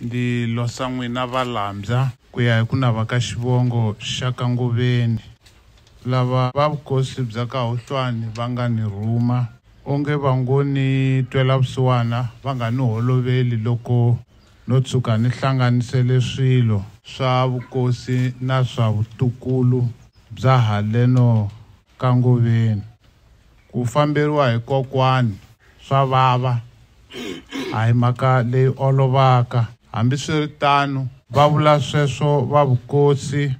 Ndi losa n'wina valambya. Ku ya hi ku nava ka xivongo xa ka Ngoveni, lava va vukosi bya ka Hohlwani va nga ni rhuma, onge va ngo ni twela vusiwana va nga ni holoveli loko no tshuka ni hlanganisele swilo swa vukosi na swa vutukulu bya haleno ka Ngoveni. Ku famberiwa hi kokwani swa vava, a hi mhaka leyi olovaka. Hambiswiritano, va vula sweswo va vukosi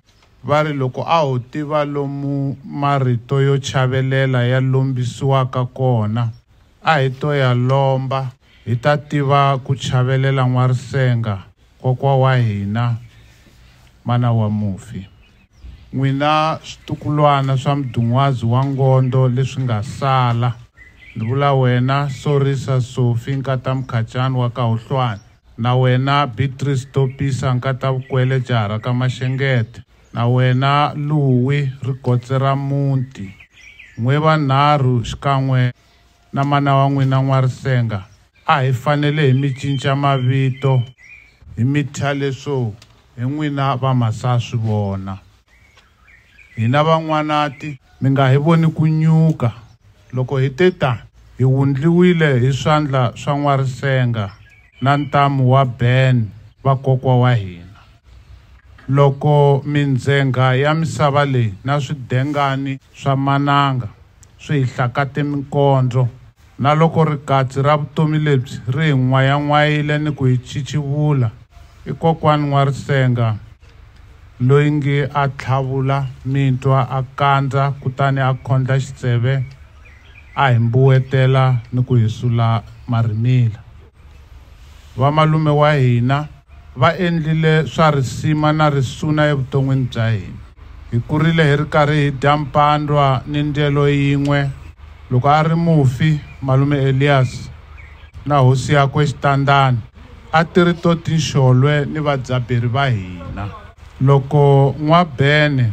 va ri loko a ho tiva lomu marito yo chavelela ya lombisiwaka kona, a hi to ya lomba hi ta tiva ku chavelela N'warisenga, kokwa wa hina, mana wa mufi. N'wina switukulwana swa mdun'wazi wa ngondo leswi nga sala, ni vula wena Sorisa Sofi nkata Mkhacani wa ka Huhlwani, na wena Beatrice Topisa nkata Vukwele jaha ra ka Mashengete, na wena Luwi ri gotse ra muti, n'we vanharhu xikan'we na mana wa n'wina N'warisenga, a hi fanele hi mi cinca mavito hi mi thya leswo hi n'wina va Masaswivona. Hina va N'wanati mi nga hi voni ku nyuka loko hi te ta hi wundliwile hi swandla swa N'warisenga. na ntamu wa Ben va kokwa wa hina. Loko mindzhenga ya misava leyi na swidengani swa mananga swi hi hlakate minkondlo, na loko rikatsi ra vutomi lebyi ri hi n'wayan'wayile ni ku hi chichivula, i Kokwani N'warisenga loyi ngi a tlhavula mintwa a kandza kutani a khondla xitseve, a hi mbuwetela ni ku hi sula marhimila. Vamalume wa hina va endlile swa risima na risuna evuton'wini bya hina. Hi kurile hi ri karhi hi dya mpandwa ni ndyelo yin'we. Loko a ri mufi, Malume Elias na hosi yakwe Xitandani a ti ri to tinxolwe ni vadzaberi va hina. Loko N'wa-Bene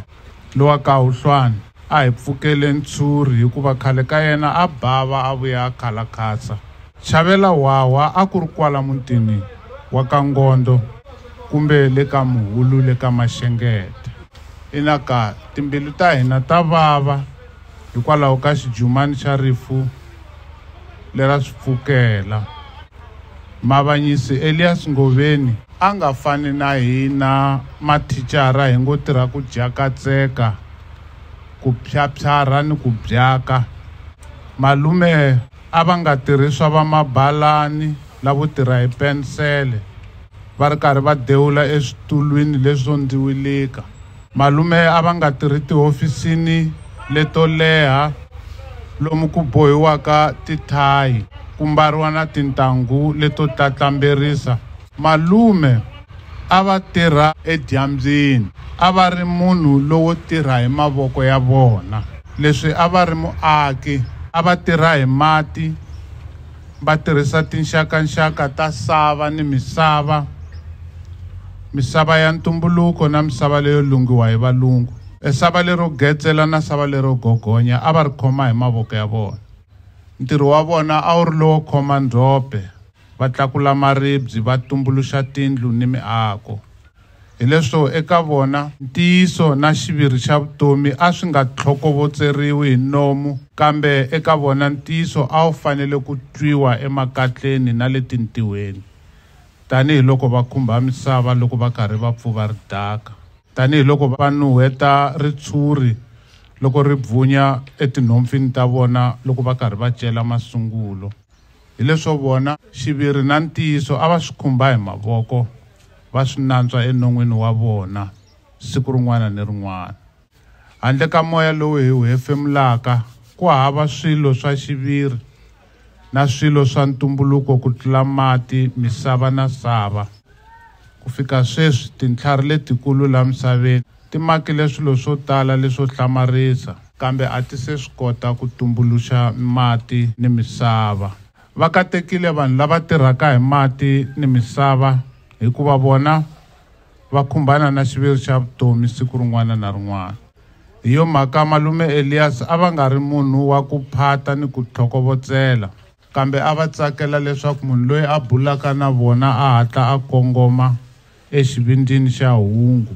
Lowa Kahuhlwani a hi pfukele ntshuri hikuva khale ka yena a bava a vuya a khala khasa. Chavela Hwahwa a ku ri kwala mutini wa ka Ngondo kumbe le ka Muhulu le ka Maxengeta. Ina ka, timbilu ta hina ta vava hikwalaho ka xijumani xa rifu lera swi pfukela. Mavanyisi Elias Ngoveni. a nga fani na hina mathicara hi ngo tirha ku jakatseka, ku phyaphyarha ni ku byaka. Malume a va nga tirhi swa vamabalani lavo tirha hi pensele va ri karhi va dewula eswitulwini leswo ndziwilika. Malume a va nga tirhi tihofisini leto leha lomu ku bohiwaka tithayi, ku mbariwa na tintangu leto tlatlamberisa. Malume a va tirha edyambyini. A va ri munhu lowo tirha hi mavoko ya vona. Leswi a va ri muaki, a va tirha hi mati, va tirhisa tinxakanxaka ta sava ni misava, misava ya ntumbuluko na misava leyo lunghiwa hi valungu. E sava lero getsela na sava lero gogonya a va ri khoma hi mavoko ya vona. Ntirho wa vona a wu ri lowo khoma ndzhope, va tlakula maribye, va tumbuluxa tindlu ni miako. Hileswo eka vona, ntiyiso na xiviri xa vutomi a swi nga tlhokovotseriwi hi nomu, kambe eka vona ntiyiso a wu fanele ku twiwa emakatleni na le tintiweni, tanihi loko va khumbha misava loko va karhi va pfuva ridaka, tanihi loko va nuheta ritshuri loko ri bvunya etinhompfini ta vona loko va karhi va cela masungulo. Hi leswo vona, xiviri na ntiyiso a va swi khumba hi mavoko va swi nantswa enon'wini wa vona siku rin'wana ni rin'wana. Handle ka moya lowu hi wu hefemulaka, ku hava swilo swa xiviri na swilo swa ntumbuluko ku tlula mati, misava na sava. Ku fika sweswi, tintlhari letikulu laha misaveni ti makile swilo swo tala leswo hlamarisa. Kambe a ti se swi kota ku tumbuluxa mati ni misava. Va katekile vanhu lava tirhaka hi mati ni misava hikuva vona va khumbana na xiviri xa vutomi siku rin'wana na rin'wana. Hi yo mhaka Malume Elias a va nga ri munhu wa ku phata ni ku tlhokovotsela. Kambe a va tsakela leswaku munhu loyi a bulaka na vona a hatla a kongoma exivindzini xa hungu,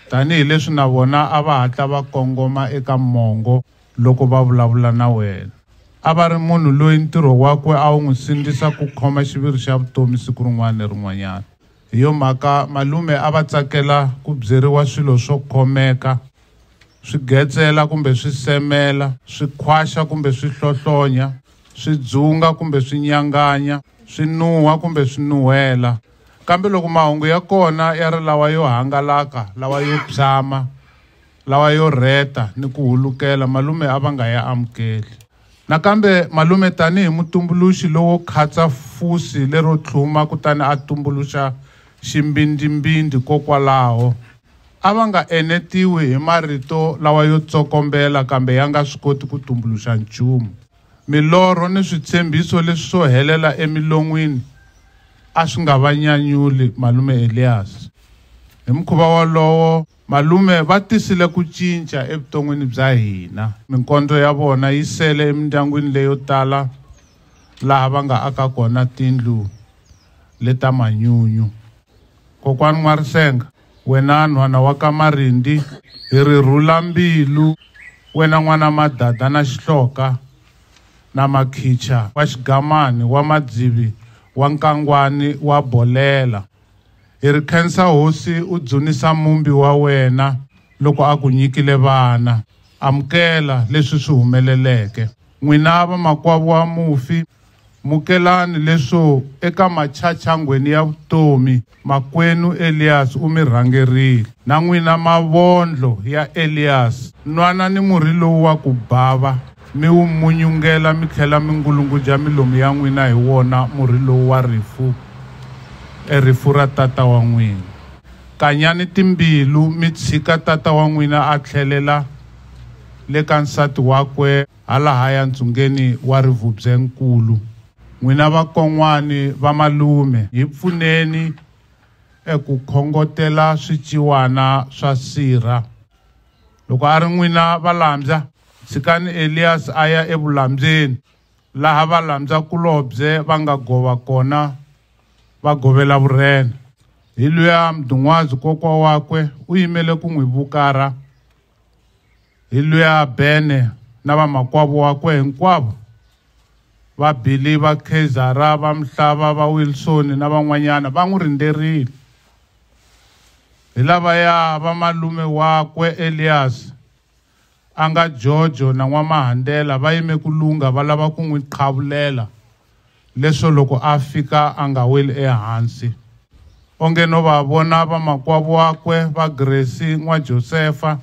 tanihi leswi na vona a va hatla va kongoma eka mongo loko va vulavula na wena. A va ri munhu loyi ntirho wakwe a wu n'wi sindzisa ku khoma xiviri xa vutomi siku rin'wana ni rin'wanyana. Hi yo mhaka, malume a va tsakela ku byeriwa swilo swo khomeka, swi getsela kumbe swi semela, swi khwaxa kumbe swi hlohlonya, swi dzunga kumbe swi nyanganya swi nuha kumbe swi nuhela kambe loko mahungu ya kona ya ri lawa yo hangalaka lawa yo phyama lawa yo rheta ni ku hulukela malume a va nga ya amukeli nakambe malume tanihi mutumbuluxi lowo khatsa fusi lero tlhuma kutani a tumbuluxa ximbindzimbindzi kokwalaho a va nga enetiwi hi marito lawa yo tsokombela kambe ya nga swi koti ku tumbuluxa nchumu. Milorho ni switshembiso leswi swo helela emilon'wini a swi nga va nyanyuli Malume Elias. Hi mukhuva wolowo, Malume va tisile ku cinca evuton'wini bya hina. Minkondzo ya vona yi sele emindyangwini leyo tala laha va nga aka kona tindlu leta manyunyu. Kokwani N'warisenga, Wena nhwana wa ka Marindi hi ri rhula mbilu wena n'wana Madada na Xihloka na Makhicha wa Xigamani wa Madzivi wa Nkangwani wa Bolela hi ri khensa hosi u dzunisa mumbi wa wena loko a ku nyikile vana amukela leswi swi humeleleke n'wina vamakwavo wa mufi Mukelani leswo eka machachangweni ya vutomi makwenu Elias u mi rhangerile. Na n'wina mavondlo ya Elias, nwanani murhi lowu wa ku bava, mi wu munyungela mi tlhela mi ngulunguja milomu ya n'wina hi wona murhi lowu wa rifu, e rifu ra tata wa n'wina. Kanyani timbilu mi tshika tata wa n'wina a tlhelela le ka nsati wakwe. halahaya ntsungeni wa Rivubye-nkulu. N'wina vakon'wani va malume hi pfuneni eku khongotela swiciwana swa sirha. Loko a ri n'wina valambya, tshikani Elias a ya evulambyeni, laha valambya-kulobye va nga gova kona va govela vurhena. Hi luya Mdun'wazi kokwa wakwe u yimele ku n'wi vukarha. Hi luya Bene na vamakwavo wakwe hinkwavo, va Billy, va Khezara, va Mhlava, va Wilson na van'wanyana va n'wi rindzerile. Hi lavaya va malume wakwe Elias, a nga Jojo na N'wamahandela va yime ku lungha va lava ku n'wi qhavulela. leswo loko a fika a nga weli ehansi. Onge no va vona vamakwavo wakwe va Gresi n'wa Josefa,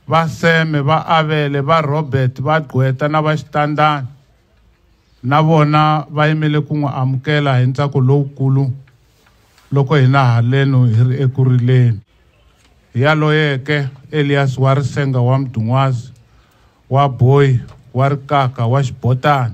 va Seme, va Avele, va Robert, va Gqweta na va Xitandani, na vona va yimele ku n'wi amukela hi ntsako lowukulu loko hina haleno hi ri eku rileni. Hi yaloyeke, Elias wa Risenga wa Mdun'wazi, wa Boyi, wa Rikaka, wa Xibotani,